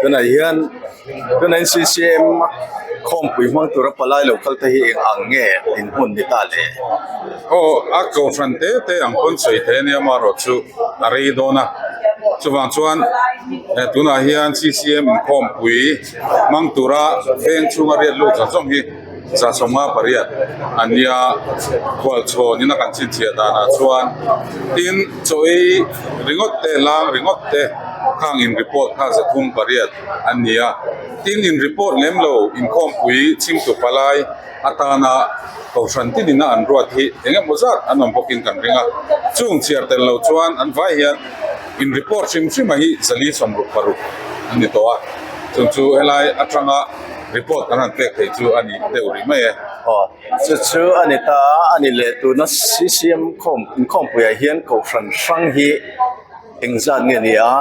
tunah hian tunah hian ccm a khawmpui hmang tura palai lo kal te hi eng ang nge in hmun ni ta leh aw a kohhran te te ang pawn sawi theih ania amarawhchu chu a rei dawn a chuvang chuan eh tunah hian ccm in khawmpui hmang tura veng chhunga riat lut zawng zawng hi-- Zasawmnga pariat a nia khual chhawn in a kan chhinchhiah dan ah chuan tin chawi ringawt te lang ringawt te khang in report kha za thum pariat an nia tin in report lem lo in khawmpui chhing tu palai atan a kohhran tin in a an ruat hi eng emaw zat an awm bawk in kan ring a chung chhiar tel lo chuan an vai hian in report hrim hrima hi zali sawm ruk paruk an ni tawh a chung chu helai atanga report kan han pek thei chu a ni deuh rih mai e. Aw, chu chu a ni ta a, a nih leh tuna CCM khawm, inkhawmpuiah hian Kohhran hrang hi eng zat nge ni a,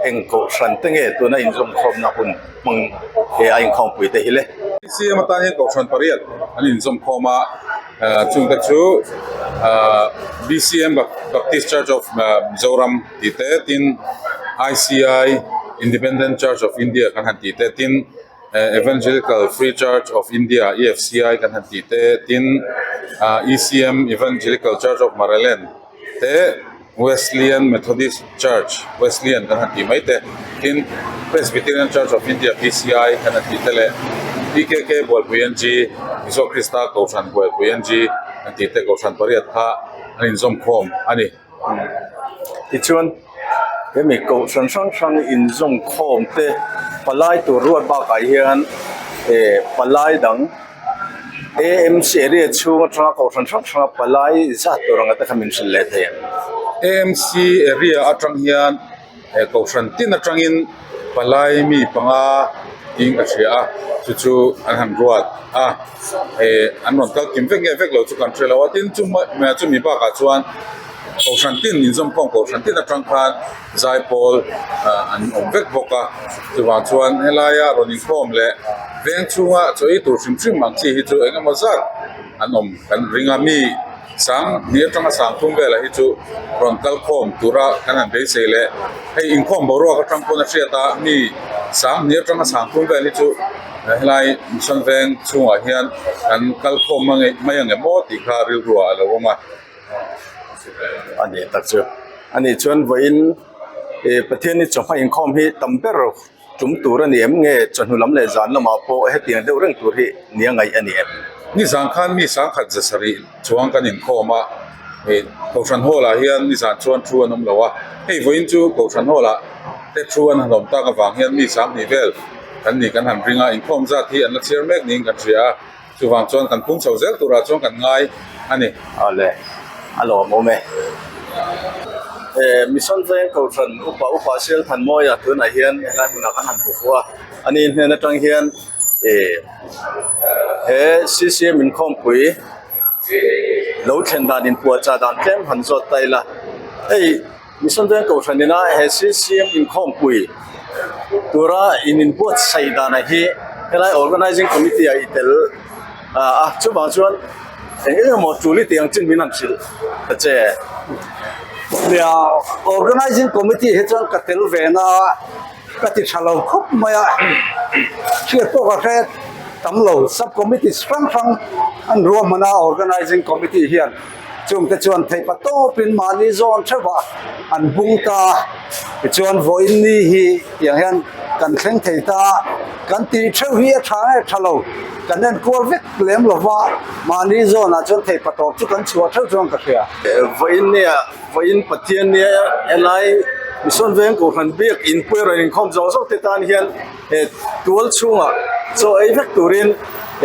heng Kohhran te nge tuna inzawmkhawmna hun hmang he a inkhawmpui te hi le? CCM atan hian Kohhran pariat an inzawmkhawm a, chungte chu BCM, Baptist Church of Mizoram, tih te tin ICI independent church of India kan han tih te tin eh evangelical free church of India EFCI kan han tih te tin ah ECM evangelical church of Maraland te wesleyan methodist church wesleyan kan han tih mai te tin presbyterian church of India PCI kan han tih te leh PKK buaipui N G mizo krista kohhran buaipui N G kan tih te kohhran pariat kha an inzawm khawm a ni. Tichuan, he mi kohhran hrang hrang inzawng khawm te palai tur ruat bakah hian ehh palai dang amc area chhung atanga kohhran hrang hranga palai zat tur anga te khan min hrilh leh thei ang. he kohhran tin atangin palai mi panga thing a hria a chu chu an han ruat a he an rawn kal kim vek nge vek lo chu kan hre lo a tin chu hmeiah chu mi bakah chuan kohhran tin inzawm khawm kohhran tin atang khan zai pawl ah an awm vek bawk a chuvang chuan helaia rawn inkhawm leh veng chhunga chawih tur hrim hrim ang chi hi chu eng emaw zat an awm kan ring a mi-- Sang hming atanga sang thum velah hi chu rawn kal khawm tura kan han beisei leh hei inkhawm boruak atang pawn a hriat a, mi sang hming atanga sang thum vel hi chu helai mihran veng chhungah hian kan kal khawm mange mai ange maw tih kha rilrua a lo awm a. Ani tak chu, ani chuan vawiin Pathian i chawhma inkhawm hi tam ber. Tum tur a ni em nge? Chawhnu lam leh zan lamah pawh hetiang deuh reng tur hi ni a ngaih a ni em? Nizan khan mi sangkhat ze sarih chuang kan inkhawm a, Kohhran Hall ah hian nizan chuan thu an awm lo a, hei vawiin chu Kohhran Hall ah te thu an han awm tak avang hian mi sang hnih vel kan nih kan han ring a, inkhawm zat hi an la chhiar mek niin kan hria a. Chuvang chuan kan pung chho zel turah chuan kan ngai a ni. A le a lawm awm e. He Mission veng ko hran upa upa sial phan mawia tunah hian helai hmunah kan han bufu a. A nih hmel atang hian ih he CCM inkhawmpui lo thlen dan in puahchah dan tlem han zawt ta ila hei. Misundawn Kohhran nena he CCM inkhawmpui tura in inbuatsaih danah hi helai Organising Committee a i tel a, chuvang chuan eng eng emaw tuli tih ang chin min han hrilh ta che. Nia, Organising Committee hi chuan ka tel ve na a, ka ti tha lo khawp mai a, hriat pawh ka hriat tam lo, Sub-committees hrang hrang an ruahman a Organising Committee hian. chungte chuan theih pa tawpin mahni zawn theuhva an bung ta a tichuan vawiin ni hi tiang hian kan thleng thei ta a kan ti theuh hi a tha nge tha lo kan enkual vek lem lova mahni zawnah chuan theih pa tawp chu kan chhuah theuh chuan ka hria vawiin nia vawiin pathian nia helai mihsawn veng kohhran biak in pawirawn inkhawm zawng zawng te tan hian. he tual chhungah chaw ei vek turin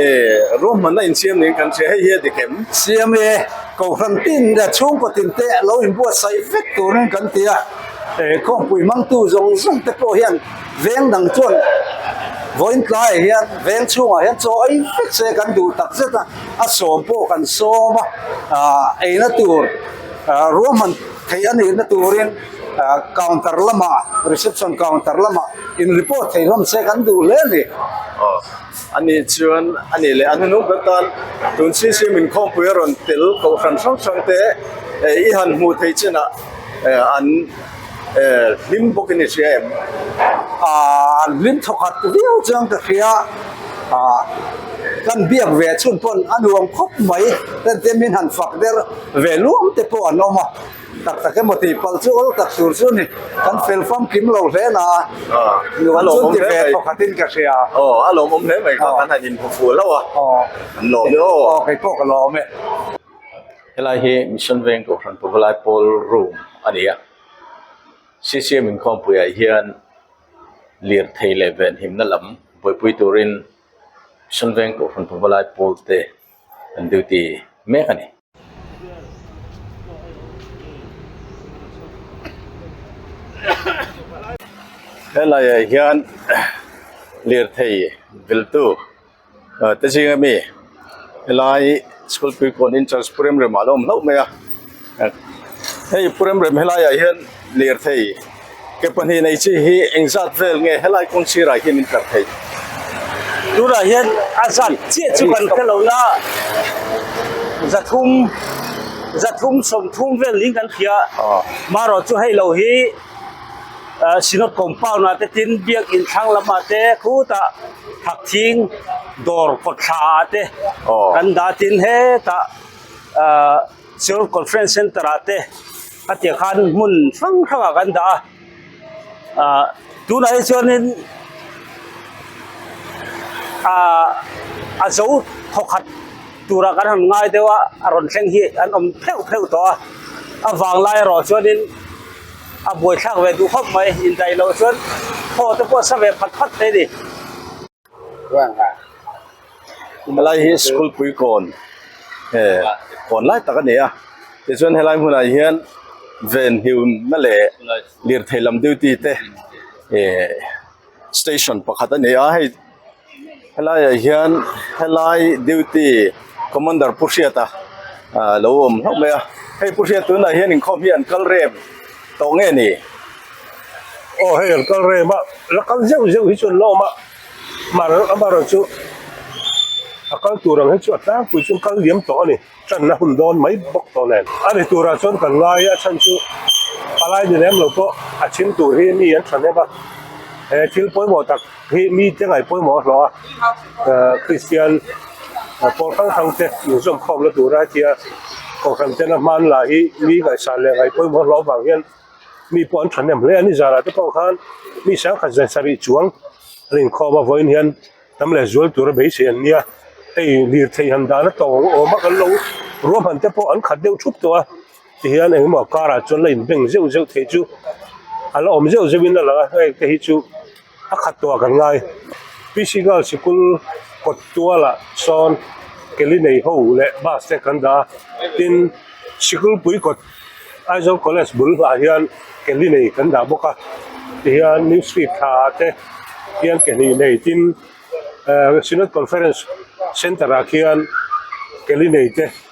ehh ruahmanna insiam niin kan hria hei hi a ti kem. Siam e, Kohhran tin leh chhungkut in te lo inbuatsaih vek turin kan ti a, ehh khawngpui hmangtu zawng zawng te pawh hian veng dang chuan vawiintlaiah hian veng chhungah hian chaw ei vek se kan duh tak zet a, a sawm pawh kan sawm a, ahh eina tur ruahman theih a nihna turin. ah counter lamah reception counter lamah in report thei hlawm se kan duh hle a ni. Aw, ani chuan a nih leh, an nu nu ber tan tun chhi chu min khawmpui a rawn tel kohhran hrang hrang te eh i han hmuh theih chin ah eh an eh hlim bawk i ni hria em? Ah an hlim thaw khat viau chuan ka hria, ah kan biak ve chhun pawn a nuam khawp mai, hetiang min han fak der ve luang te pawh an awm a. Tak tak emaw tih pal chu awl tak tur chu a ni kan fel fam kim lo hle la a nuam chu ti ve pakhat in ka hria aw a lawmawm hle mai kha kan han inphu fuh hlauh a aw an lawm hi aw aw kei pawh ka lawm e helai hi mission veng tur hran pawh lai pawl room a ni a ccm inkhawmpui ah hian lirthei leh venhimna lam buaipui tur in mission veng tur hran pawh lai pawl te an duty mek a ni. Helaiah hian lirthei viltu te zing ami helai school pui pawn in church pu remrem ah ala awm hlauh mai a hei pu remrem helaiah hian lirthei-- Ke pahnih nei chi hi eng zat vel nge helai kawng sirah hian min tlar thei? Tunah hian a zat chiah chu kan hre lo la, za thum, za thum sawm thum vel niin kan hria. Marawh chu hei lo hi Synod compound ah te tin Biakinn thlang lam ah te khutah phak thing dawr kawt thla ah te kan dah tin hetah Seoul Conference Center ah te ka tia khan hmun hrang hrang ah kan dah a ah tunah hi chuan in ah a zo thaw khat tura kan han ngai deuh a a rawn thleng hi an awm pheuh pheuh tawh a a vang lai erawh chuan in a buai thlak ve duh khawp mai indaih loh chuan thaw te pawh sa ve phat phat te a ni. helai hi school puikawn nge kawn lai tak a ni a tichuan helai hmunah hian ven hliuna leh lirthei lam duty te ehh station pakhat a ni a hei helai ah hian helai duty commander pu hriat a lo awm hlauh mai a hei pu hriat tunah hian inkhawm hi an kal rem. Tawng nge ni? Aw hei an kal rem a, la kal zeuh zeuh hi chu an la awm a, mar amarawh chu a kal tur ang hi chu a tlangpui chuan kal liam tawh a ni, tan a hun dawn mai bawk tawh nen. A ni turah chuan kan ngai a chhan chu palai ni lem lo pawh a chhim tur hi mi an thahnem a, he thil pawimawh tak. Hei mi te ngai pawimawh a hlawh a, Kristian pawl hrang hrang te inzawm khawm la tura hetia Kohhran ten a hman lah hi mi ngaihsan leh ngai pawimawh a hlawh avang hian mi pawh an thahnem hle a ni, zara te pawh khan mi hrang khat zan sarih chuang an inkhawm a, vawiin hian tam leh zual tura beisei an nia, hei lirthei han dana tawng awm a kan lo ruahman te pawh an khat deuh thup tawh a. ti hian eng mah car ah chuan la in beng zeuh zeuh theih chu a la awm zeuh zeuh in a lang a heng te hi chu a khat tawh a kan ngai P C girl sikul kawt tual ah sawn keli nei ho leh bus te kan dah a tin sikulpui kawt Aizawl college bul ah hian keli nei kan dah bawk a ti hian New street thla te hian ke hnih nei tin ahh Synod conference center ah khian keli nei te--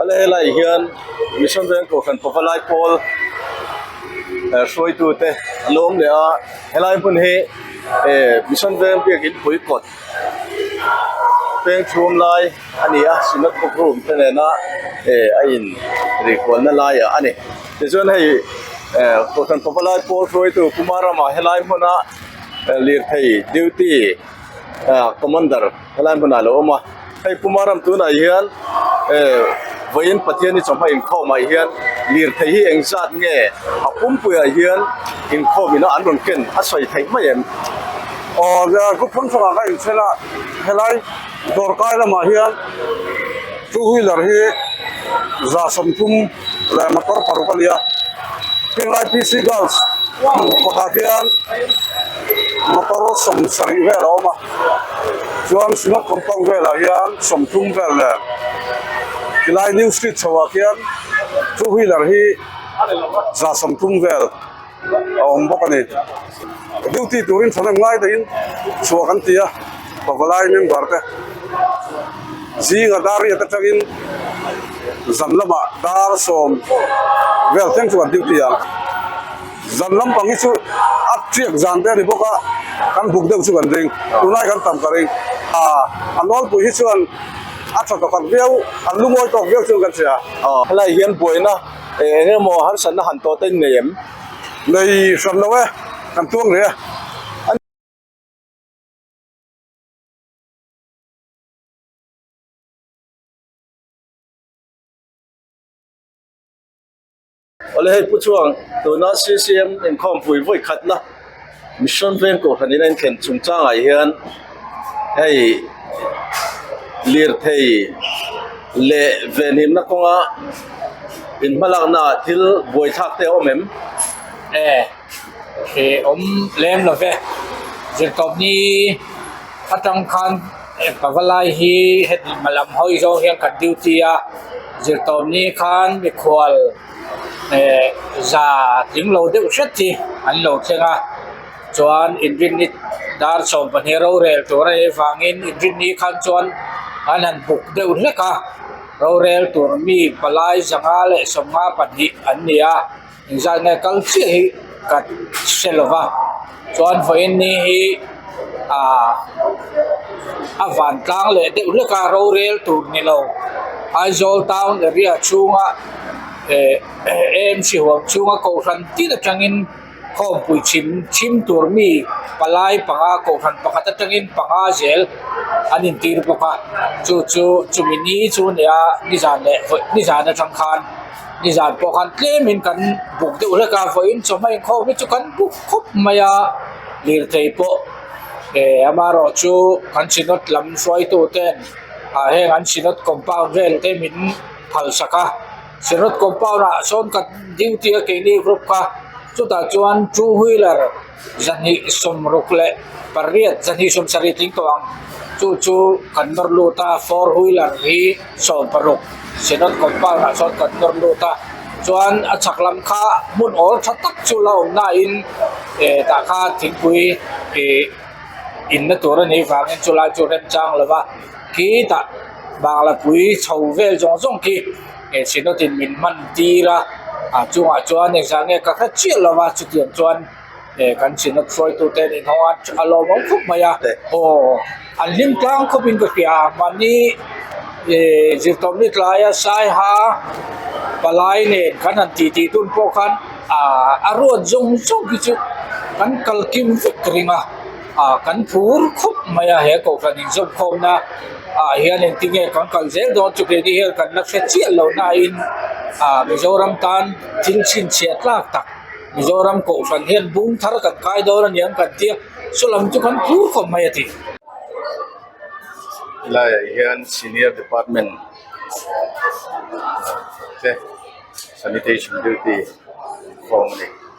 A la helai hian Mission Veng Kohhran pava lai pawl eh hruaitute an awm leh a, helai hmun hi eh Mission Veng biakin puikawt. peng chhum lai a ni a swimming pool room te nena eh a in rih kual na lai a ni tichuan hei eh pusan pawpa lai pawr hruai tu puma ramah helai hmuna lirthei duty ah commander helai hmunah a lo awm a. Hei puma ram tunah hian vawiin Pathian i chawhmah inkhawm ah hian lirthei hi eng zat nge a pumpui ah hian inkhawm ina an rawn ken a sawi theih mai em? Aww Group Phansanga ka inchhen a, helai dawr kai lamah hian two wheeler hi zahsawm tum. leh motor paruk a ni a helai p c girls kawtah hian motor sawm sarih vel a awm a chuan singha compound velah hian sawmthum vel leh helai new street chhoh ah khian two wheeler hi za sawmthum vel-- a awm bawk a ni duty turin tha nawm ngai takin chhuah kan ti a pabalai member te zinga dar riat atangin zan lama dar sawm vel thleng chu kan duty a zan lampang hi chu a hriak zan te a ni bawk a kan buk deuh chu kan ring tunlai kan tam ka ring ah a nawlpui hi chuan a tha takhat viau a lu ngawi tawk viau chuan kan chhe a a lai hian buaina. Eng emaw a harsatna han tawh ta in nei em? Nei hram lo e, kan tuang ve a. Awle hei pu chuan tuna ccm inkhawmpui vawikhatna. Mission veng tur hanin a inthleng chung changah hian hei lirthei leh venhimna kawnga inhmalakna ah thil buaithlak te a awm em? E, e awm lem lo ve. Zirtawpni atang khan ka va lai hi heti hmalam hawi zawng hian kan duty a, zirtawpni khan mikhual, za tling lo deuh hret hi an lo thleng a chuan inrinni dar sawm pahnih rorel tur a nei vangin inrinni khan chuan an han buk deuh hlek a rorel tur mi palai zanga leh sawmnga pahnih an ni a engzat nge kal chiah hi ka hre lova. Chuan vawiinni hi ahh a van tlang leh deuh hlek a rorel tur ni lo Aizawl town area chhunga eh amc huam chhunga kohhran tir atangin khawmpui chhim chhim tur mi palai panga kohhran pakhat atangin panga zel an intîr bawk a chu chu chumi ni chu a ni a nizan leh nizan aṭang khân. Nizan pawh khan tlemin kan buk deuh hlek a vawiin chawhmah inkhawi hi chu kan buk khawp mai a lirthei pawh eeh amarawhte chu kan chhinawt lam hruaitu ten ah heng an chhinawt compound vel te min phalsak a chhinawt compound ah sawn kan duty a keini group kha chutah chuan two wheeler -- Zahnih sawmruk leh pariat zahnih sawmsarih tling tawh ang chu chu kan nawr lut a, four wheeler hi sawm paruk Siahnawt compound ah chuan kan nawr lut a, chuan a chhak lam kha hmun awl tha tak chu la awm na in eh tah kha thingpui ih in na tur a nih vang in chu lai chu remchang lo va khi tah Banglapui chho vel zawng zawng khi-- He Sino tin min hman tir a, a chungah chuan exam nge ka hre chiah lo va, chutiang chuan he kan Sino hruaitu ten in hawng a a lawm ang khawp mai a, aw an hlim tlang khawp in ka hria a, mahni eh zirtawp ni tlai a saiha palai nen kan han ti ti tun pawh khan a ruat zawng zawng hi chu kan kalkim vek ring a. ah kan phur khawp mai a he kohhran inzawm khawmna ah hian eng tinge kan kal zel dawn chu kei te hian kan la hre chiah loh nain ah mizoram tan thil chhinchhiah tlak tak mizoram kohhran hian bum thar kan khai dawn a ni ang kan tia saw lam chu kan phur khawp mai a ti lai ah hian senior department te sanitation duty a ni.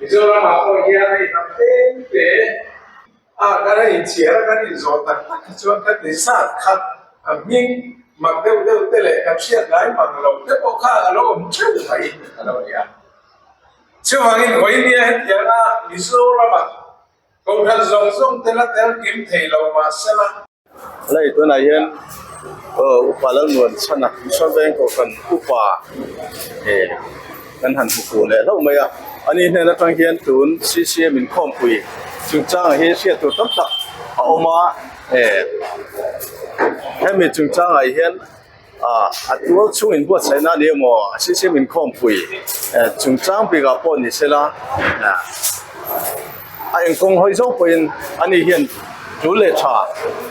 Mizoramah pawh hian hei hnam tlem te a kan raih chhiar a kan inzawh tak tak hi chuan kan ti sa khat a hming mak deuh deuh te leh kan hriatlai mak lo te pawh kha a lo awm teuh mai a lo ni a chuvangin vawinia hetianga Mizoramah Kokhat zawng zawng te la tel kim thei lo mah se la. Lei tunah hian Upa Lalnuan chhana Mihring Veng Kokhan upa hi kan han hmu fuh leh hlauh mai a, ani hnen atang hian tun CCM inkhawmpui chungchangah hi hriat tur tam tak a awm a, hemi chungchangah hian. A tual chungin buatsaihna ni emaw a hriathreng inkhawmpui chungchang bikah pawh ni se la, a eng kawng hawi zo pawhin ani hian tul leh tha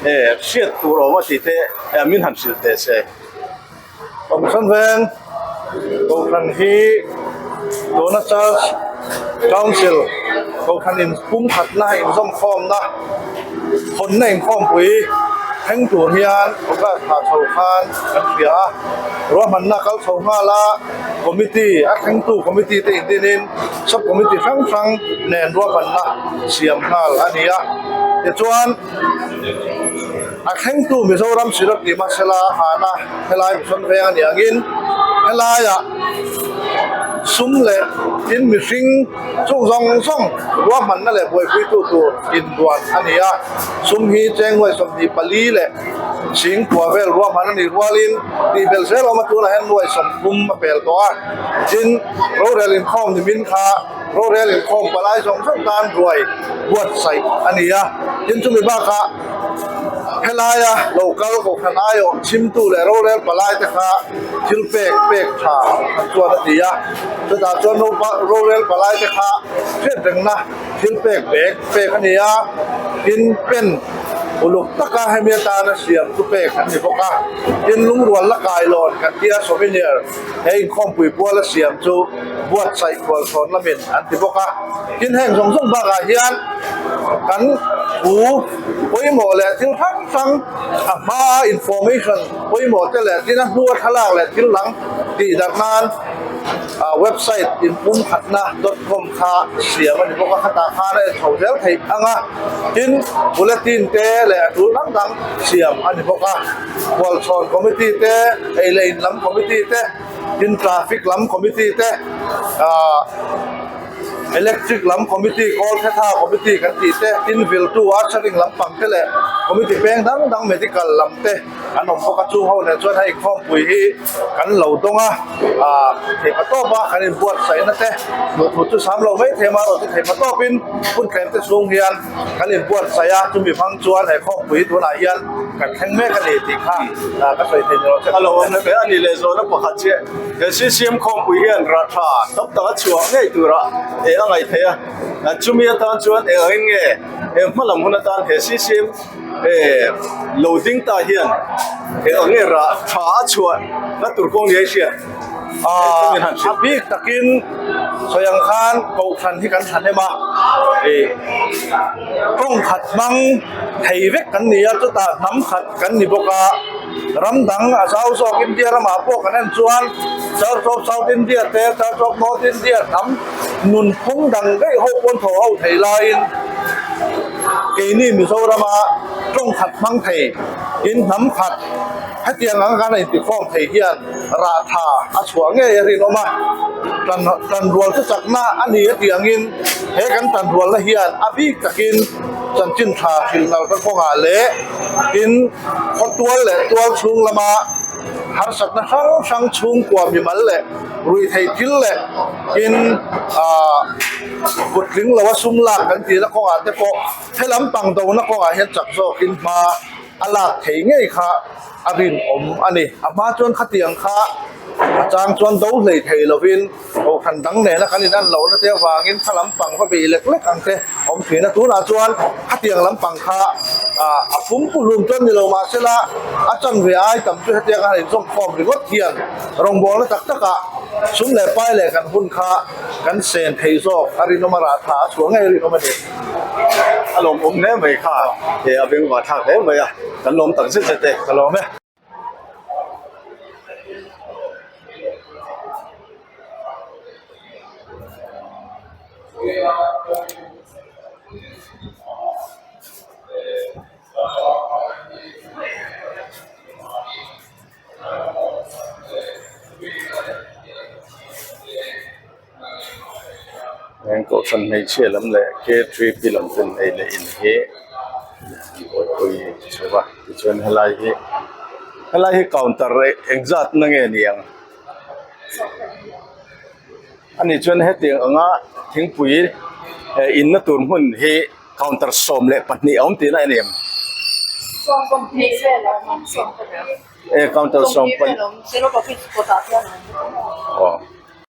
he hriat tur a awm a tih te min han hrilh teh se. Kawmhran veng Kohhran hi Dona Charge Council, Kohhran in pumkhatna, inzawmkhawmna, Hawnna inkhawmpui thleng tur hian August thla chho khan kan hria a, ruahmanna kal chho nghal a committee a thlengtu committee te indinin sub committee hrang hrang nen ruahmanna siam nghal a ni a. Tichuan a thlengtu Mizoram Sirah tih hmasela hahna helai mihrawn veng a ni angin helaiah sum leh tin mihring, Chung zawng zawng ruahmanna leh buaipuitu tur inbuan a ni a. Sum hi Chengnuai sawmhnih pali leh chhing kua vel ruahman a nih rualin tihbelh zel awma tunah hian nuai sawmh pum a pel tawh a. Tin, rorel inkhawm ni min kha rorel inkhawm palai zawng zawng tan ruai buatsaih a ni a. Tin, chumi bakah. Helaia lo kal hawhkhan aiawm chimtu leh rorel palai te kha thil pek pek tha an chuan a ti a, chutah chuan ropa rorel palai te kha hriat rengna thil pek bek pek a ni a, tin pen uluk taka hemi atana siam chu pek an ni bawk a, tin lungrual la kailawn kan tia souvenir -- He inkhawmpui bual a siam chu buatsaih khualtlawn lamin an ti bawk a. Tin, heng zawng zawng bakah hian kan pu pawimawh leh thil hrang hrang a hmaa information pawimawh te leh tina hnua thlalak leh thil dang tih darh nan website inpumkhatna dot com kha siam a ni bawk a, khatah khan a en chho zel thei ang a. Tin, bulletin te leh a tul hrang hrang siam a ni bawk a. Hualchhuar committee te, eileh in lam committee te, tin traffic lam committee te, aah electric lam committee, kawl khe tha committee kan tih te, tin vil tu a tharing lam pang te leh committee peng dang dang medical lam te an awm bawk a, chung ho nen chuan hei inkhawmpui hi kan lo dawng a, aah theihpa tawp a kan in buatsaih na te hmuh tur chu sam lo maithei a, mah erawh chu theihpa tawp in hmun thleng te chhung hian. Kan inbuatsaih a, chumi hmang chuan he khawkpui tunah hian kan thleng mek a ni tih kha ka sawi thei ni lo che. A lo awmna ber a nih leh zawhna pakhat che, he CCM khawkpui hian rah tha tam tak a chhuah ngei turah eng a ngaihthei a, chumi atan chuan eng angin nge he hma lam hun atan he CCM he lo ding ta hian eng ang nge rah tha a chhuah na tur kawng nia i hriat. A bik takin sawi ang khan Kohhran hi kan thahnem a, ih kawngkhat hmang thei vek kan ni a, chutah hnam khat kan ni bawk a. Ram dang a zau zawk India lamah pawh kan en chuan Church of South India te, Church of North India hnam nun phung dang daih ho paw'n thaw ho thei laiin keini Mizorama kawngkhat hmang thei in hnam khat hetiang ang khan a intikhawm thei hian. Rah tha a chhuah ngei a rinawm a, tan tan rual chu chakna a ni a tiangin he kan tan rualna hian a bik takin chanchin tha thil nalka kawngah leh tin khawtual leh tual chhung lama harsatna hrang hrang chhungkua mimal leh ruihtheih thil leh tin aah kuttling lo a sum lak kan tihna kawngah te pawh he lam pang dona kawngah hian chak zawkin hma. A lak thei ngei kha a rinawm a ni. A hma chuan khatiang kha a chang chuan do hlei thei lovin Kohhran dang nena kan in an lohna te avangin kha lam pang va beih lek lek ang che. Awm thin-a tunah chuan khatiang lam pang kha a fum pu hlum chuan ni lo mahsela a chanve ai tam chu hetiang a han inzawm khawm ringawt hian rawngbawlna tak takah sum leh pai leh kan hun kha kan sen thei zawk a rinawm a rah tha a sual ngei a rinawm a ni. a lawm awm hle mai kha he a beng va thlak hle mai a kan lawm tak zet zet e ka lawm e. heng kohhran hmeichhia lam leh lam ten ei leh in hi buaipui a ti chauh a tichuan helai hi helai hi counter eng zat na nge ni ang ani chuan heti ang a thingpui he in na tur hmun hi counter sawm leh pahnih a awm tihna a ni ang e counter sawm pahnih aw.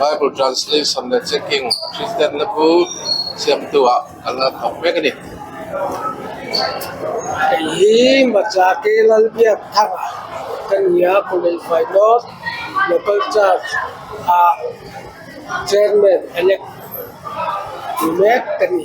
Bible translation leh checking Kristianna bu siamtuah kan la thawk mek a ni. Hei hi hmacha ke lal biak thar ka ni a, Khawleifai North Local Church ah Chairman Elect ni mek ka ni.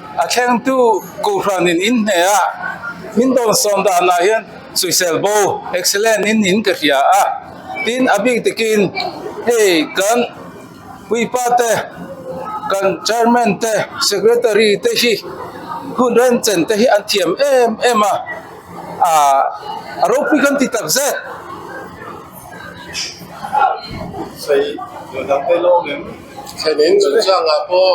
A thlengtu Kuhhran in in hne ah min dawn sawm dan ah hian Suisel bo, Excellent in in ka hria a. Tin a bik tik in hei kan puipa te, kan Chairman te, Secretary te hi hun remchen te hi an thiam em em a, a ropui kan ti takzet. Thlenin chu changah pawh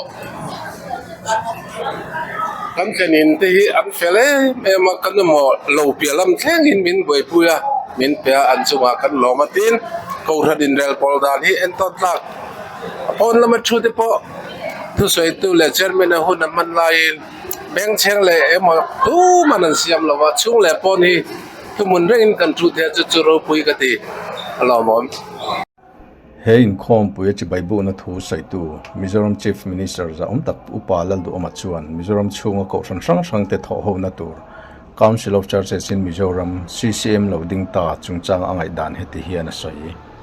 kan thlenin te hi an fel em em a kan emaw lo piah lam thlengin min buaipui a min piah a an chungah kan lawm atin ko hre inrel pawl dan hi entawt tlak a pawn lama thu te pawh thusawitu leh chairman a hun an hman laiin bengchheng leh emaw tum an siam lo a chhung leh pawn hi-- Thumun reng in kan thu theih chu chu ropui ka ti alawm awm. He inkhawmpuia chi baibuhna thu sawitu Mizoram Chief Minister Zahawm Tak Pu Upa Lalduhama chuan Mizoram chhunga kohhran hrang hrangte thawhhona tur Council of Churches in Mizoram, CCM, lo ding ta chungchanga a ngaihdan heti hian a sawi.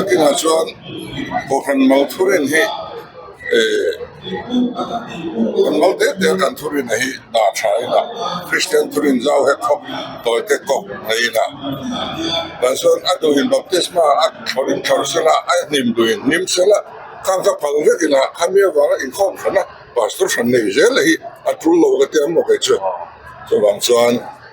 a dingah chuan huahrang mal thur in hi ihh kan mal teh teh a kan thur inah hi dah tha inah kristian thur in zau he khawp tawi te kawp ngei inah tah chuan a nu in baptisma a thlawr in thlawr sel a a hnim duh in hnim sel a khang ka phal vek inah khami avanga inkhawm hrana pastor hran nei zel a hi a tul lo ka tia ang maw kei chu chuvang chuan--